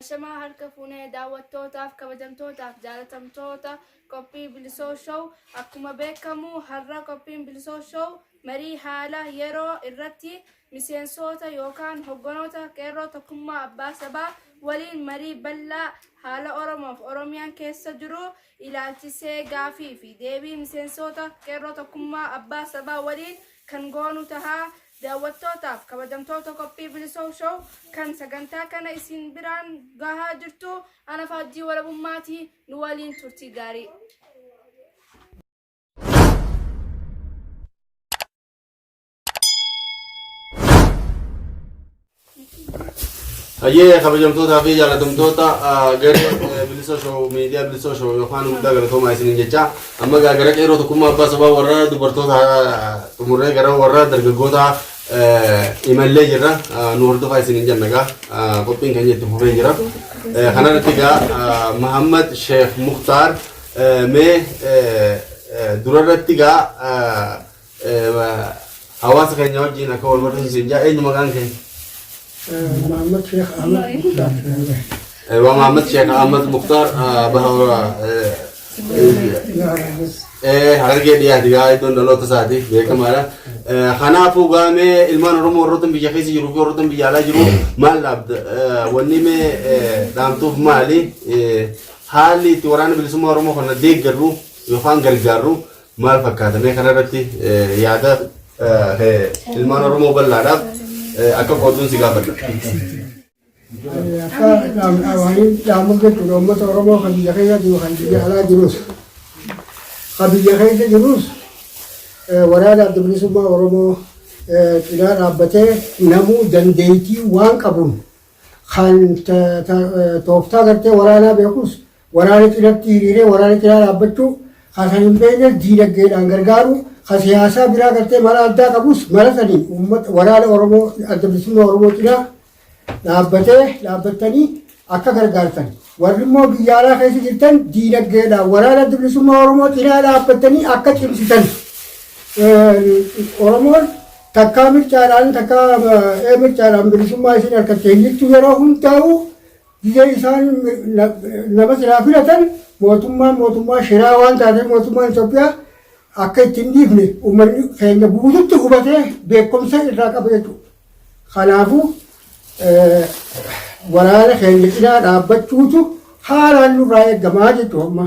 Ashamaa harka fuunee daawwattootaaf kabajamtootaaf jaalatamtoota qophii Bilisoo Show akkuma beekamu har'a qophiin Bilisoo Show marii haala yeroo irratti miseensoota yookaan hoggonoota qeerroo tokkummaa abbaa sabaa waliin marii bal'aa haala Oromoof Oromiyaan keessa jiru ilaalchisee gaafii fi deebii miseensoota qeerroo tokkummaa abbaa sabaa waliin kan goonu tahaa Daawwattootaaf kabajamtoota qophii Bilisoo Show kan sagantaa kana isin biraan gahaa jirtu ana faajjii walabummaatii nu waliin turtii gaarii. Hayyee kabajamtootaa fi jaalatamtoota garee bilisa shoo miidiyaa bilisa shoo yookaan guddaa galatoomaa isiniin jecha amma gara qeerroo tokkummaa abbaa sabaa warra dubartoota xumurree gara warra dargaggoota imallee jirra nu hordofaa isiniin jenna gaa qophiin keenya itti fufee jira kanarratti gaa Mahammad Sheekh Muktaar mee durarratti gaa Hawaasa keenya wajjin akka wal barsiisu siin jaa eenyu maqaan kee? Mahammad Sheekh Ahmad Muktaar. Ewa Mahammad Sheekh Ahmad Muktaar bahawra harargee dhiyaati gaa iddoon dhaloota isaati beekamaadha. Kanaafuu gaamee ilmaan Oromoo warroottan biyya keessa jiruu fi warroottan biyya alaa jiru maal dhaabda? Wanni mee dhaamtuuf maali? Haalli itti waraana bilisummaa Oromoo kana deeggarru yookaan gargaarru maal fakkaata mee kanarratti yaada kee ilmaan Oromoo bal'aadhaaf akka qoodduun si gaafadha. Akka dhaamni dhaamu jechuudha uummata Oromoo kan biyya keessa jiru kan biyya alaa jirus kan biyya keessa jirus waraana adda bilisummaa Oromoo cinaa dhaabbatee namuu dandeettii waan qabuun kan tooftaa gartee waraanaa beekus Waraana cinatti hiriiree waraana cinaa dhaabbachuu, ka san hin beeknes diinagdeedhaan gargaaruu, ka siyaasaa biraa gartee mala addaa qabus mala saniin uummata waraana Oromoo Adda Bilisummaa Oromoo cinaa dhaabbatee dhaabbattanii akka gargaartan, warri immoo biyya alaa keessa jirtan diinagdeedhaan waraana Adda Bilisummaa Oromoo cinaa dhaabbattanii akka cimsitan Oromoon takkaa mircaadhaan takkaa mircaadhaan bilisummaa isin harkattee hin jirtu yeroo hundaa'u Gizee isaan nama silaa filatan mootummaan mootummaa shiraa waan taatee mootummaan Itoophiyaa akka itti hin dhiifne uummanni keenya guututti hubatee beekumsa irraa qaba jechuudha. Kanaafuu waraana keenya cinaa dhaabbachuutu haalaan nurraa eegamaa jechuudha amma.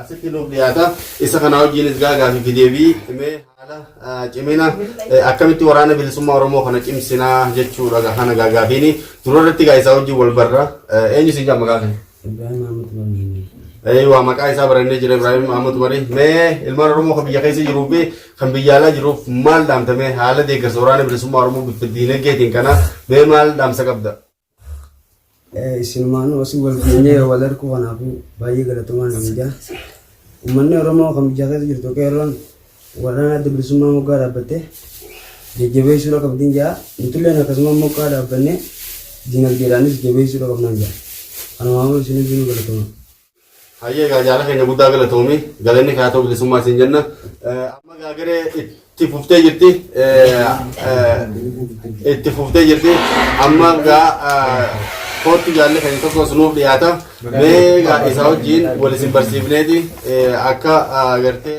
asitti nuuf dhiyaata. Isa kana wajjinis gaa gaafii fi deebii mee haala ah, cimina eh, akkamitti waraana bilisummaa Oromoo kana cimsinaa jechuudha gaa kana gaa gaafiini. Dura irratti gaa isaa wajjin wal barra. Eh, Eenyu siin jaamma gaafii? Ibrahim Ahmed Mamini. Eh, waa maqaa isaa barannee jira Ibrahim Ahmed Umari. Mee ilmaan Oromoo kan biyya keessa jiruu fi kan biyya alaa jiruuf maal dhaamta mee haala deeggarsa waraana bilisummaa Oromoo bifa diinagdeetiin kana mee maal dhaamsa qabda? Isinumaanuu asii wal geenyee wal arguu kanaafuu baay'ee galatoomaa nan jedha. Uummanni Oromoo kan biyya keessa jirtu qeerroon waraana adda bilisummaa moggaa dhaabbattee jajjabeessuudha qabdiin jedha. Nutulleen akkasuma moggaa dhaabbannee dinagdeedhaanis jabeessuudha qabnaan jedha. Kanumaafuu isin hundinuu galatoomaa. Hayyee egaa jaala keenya guddaa galatoomi. Galanni kaatoo bilisummaa siin jenna. Amma egaa garee itti fuftee jirti. Itti fuftee jirti. Amma egaa koottu jaalli keenya tokkos nuuf dhiyaata. Mee egaa isaa wajjin wal isin barsiifneeti akka gartee.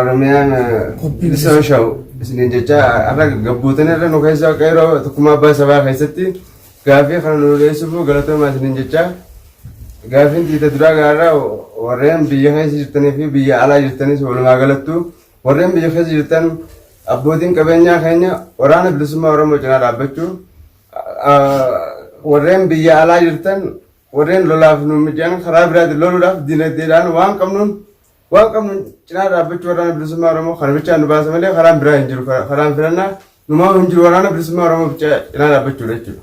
Oromiyaan bilisoon sha'u isiniin jecha har'a gabbuutan irra nu keessa qeeroo tokkummaa abbaa sabaa keessatti gaaffii kana nu dhiyeessuuf galatoomaa isiniin jecha gaaffiin tiita duraa gaarraa warreen biyya keessa jirtanii fi biyya alaa jirtanis walumaa galattu warreen biyya keessa jirtan abbootiin qabeenyaa keenya waraana bilisummaa Oromoo cinaa dhaabbachuu warreen biyya alaa jirtan warreen lolaaf nu mijaan karaa biraatiin loluudhaaf dinagdeedhaan waan qabnuun Waan qabnu cinaa dhaabbachuu waraana bilisummaa Oromoo kana bichaa nu baasa malee karaan biraa hin jiru. Karaan filannaa numaa hin jiru waraana bilisummaa Oromoo bichaa cinaa dhaabbachuudha jechuudha.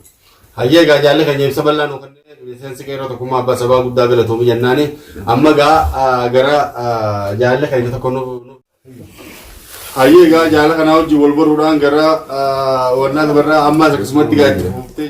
Hayyee egaa jaalli keenya ibsa bal'aa nuu kennee miseensi qeerroo tokkummaa abbaa sabaa guddaa galatoomi jennaani amma egaa gara jaalli keenya tokko nuuf Hayyee egaa jaala kanaa wajjin wal baruudhaan gara wannaa dabarraa ammaas akkasumatti gaaddi fuuftee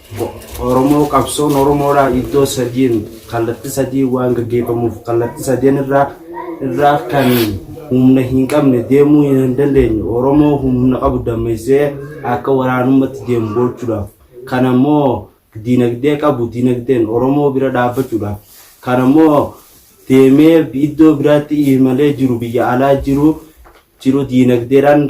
Oromoo qabsoon Oromoodhaa iddoo sadiin kallatti sadiin waan gaggeeffamuuf kallatti sadeen irraa irraa kan humna hin qabne deemuu hin dandeenye Oromoo humna qabu dammeessee akka waraanummatti deemu gochuudhaaf kan ammoo diinagdee qabu diinagdeen Oromoo bira dhaabbachuudhaaf kan ammoo deemee iddoo biraatti imalee jiru biyya alaa jiru jiru diinagdeedhaan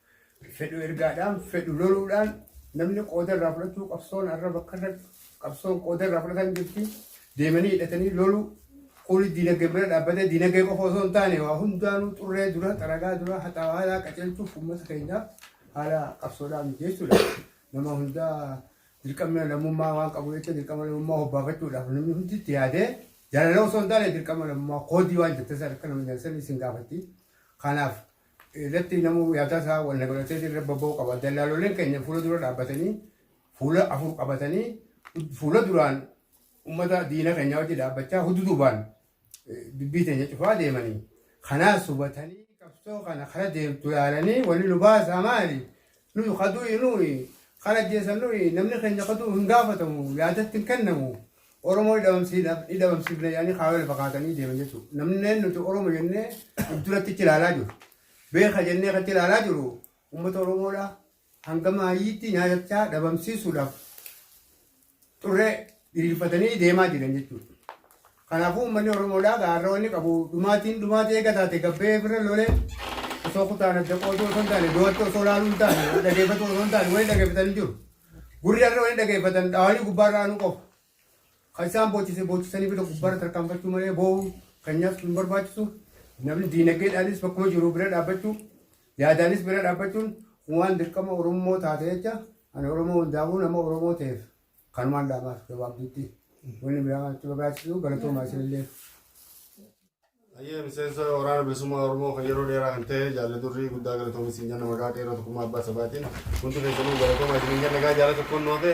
Fedhu ergaadhaan, fedhu loluudhaan namni qooda irraa fudhachuu qabsoon har'a bakka irra qabsoon qooda irraa fudhatan jirti. Deemanii hidhatanii loluu kunis diinagdee bira dhaabbatee diinagdee qofa osoo hin taane waa hundaanuu xurree dura xaragaa dura haxaawaa qajeelchuuf uummata keenyaa haala qabsoodhaa mijeessuudha. Nama hundaa dirqamni lammummaa waan qabu jecha dirqama lammummaa hobbaafachuudhaaf namni hundi itti yaadee jaalala osoo hin taane dirqama lammummaa koodii waan jettee sana akka nama jaallatanii isin gaafatti. Kanaaf irratti namuu yaadaa isaa wal dabalatee irra babba'uu qaba. Dallaalooleen keenya fuula dura dhaabbatanii fuula afur qabatanii fuula duraan uummata diina keenya wajji dhaabbachaa hudduu duubaan dubbii teenya cufaa deemanii kanaas hubatanii qabsoo kana kara deemtu yaalanii wali nu baasaa maali Nuyi ka du'e nuyi, kan ajjeesan nuyi, namni keenya ka du'u hin gaafatamu, yaadatti hin kennamu, Oromoo ni dhabamsiifna jedhanii kaayoo lafa kaatanii deeman jechuudha. Namni nuti Oromo jennee of duratti achi ilaalaa jiru, beeka jennee kan achi ilaalaa jiru uummata Oromoodha. Hanga maayyiitti nyaatachaa dhabamsiisuudhaaf xurree diriirfatanii deemaa jiran jechuudha. Kanaafuu uummanni Oromoodhaa gaarra wanni qabu dhumaatiin dhumaatii eega taate gabbee bira lolee osoo kutaan adda qooduu osoo hin taane du'atti osoo laaluu hin taane wal dhageeffatu osoo hin taane wal dhageeffatan hin jiru. Gurri har'a wal dhageeffatan dhaawanii gubbaarra aanuu qofa. Kan isaan boochisee boochisanii bira gubbaarra tarkaanfachuu malee boo'u kan nyaatu hin barbaachisu. Namni diinagdeedhaanis bakkuma jiru bira dhaabbachuu Yaadaanis bira dhaabbachuun waan dirqama Orommoo taate jecha ani Oromoo hundaafuu nama Oromoo ta'eef kanumaan dhaamaaf gabaabduutti wanni biraa itti barbaachisuu galatoomaa isinillee. Ayyee miseensa waraana bilisummaa Oromoo kan yeroo dheeraa kan ta'e jaalli durrii guddaa galatoomi siin jenna maqaa qeerroo tokkummaa abbaa sabaatiin hundi keessanuu galatoomaa isin jenna gaa jaala tokkoon nu hafe.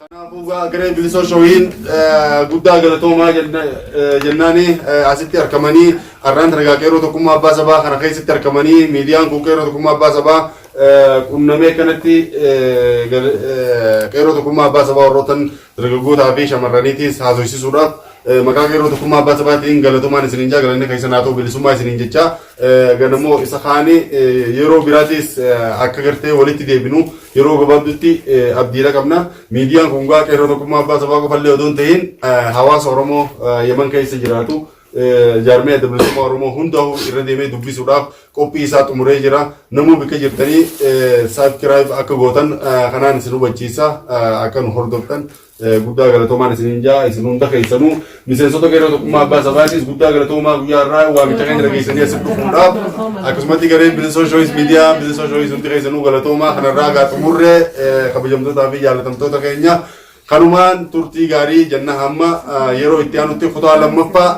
Kanaafuu gaa gareen bilisoo shooyiin guddaa galatoomaa jennaani asitti argamanii har'aan dargaa qeerroo tokkummaa abbaa sabaa kana keessatti argamanii miidiyaan kun qeerroo tokkummaa abbaa sabaa qunnamee kanatti qeerroo tokkummaa abbaa sabaa warrootan dargaggootaa fi shamarraniitiis haasofsiisuudhaaf maqaa qeerroo tokkummaa abbaa sabaatiin galatoomaan isiniin jaa galanni keessan haa ta'u bilisummaa isiniin jechaa Ganamoo isa kaanii yeroo biraatiis akka gartee walitti deebinu yeroo gabaabdutti abdiidha qabna. Miidiyaan kun gaa qeerroo tokkummaa abbaa sabaa qofallee odoo hin tahin hawaasa Oromoo Yaman keessa jiraatu jaarmee adda bilisummaa Oromoo hundaa'u irra deemee dubbisuudhaaf qophii isaa xumuree jira. Namuu bikka jirtanii saabskiraayib akka gootan kanaan isin hubachiisa akka nu hordoftan. Guddaa galatoomaan isiniin jaa isin hunda keessanuu miseensota garee tokkummaa abbaa sabaatiis guddaa galatoomaa guyyaa irraa waamicha keenya dhageessanii asitti dhufuudhaaf akkasumatti gareen bilisoo shooyis miidiyaa bilisoo shooyis hundi keessanuu galatoomaa kanarraa gaa xumurree kabajamtootaa fi jaalatamtoota keenya kanumaan turtii gaarii jenna hamma yeroo itti aanutti kutaa lammaffaa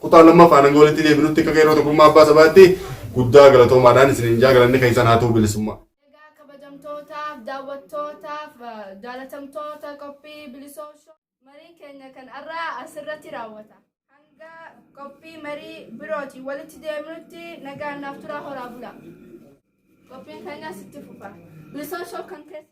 kutaa lammaffaa hanga walitti deebinutti akka garee tokkummaa abbaa sabaatti guddaa galatoomaadhaan isiniin jaa galanni keessan haa ta'u bilisummaa. Egaa kabajamtootaaf daawwattootaaf jaalatamtoota qophii bilisoo shoo marii keenya kan har'aa asirratti raawwata. Hanga qophii marii birootiin walitti deemnutti nagaan naaf turaa horaa bula. Qophiin keenyas itti fufa. Bilisoo shoo kan keessa.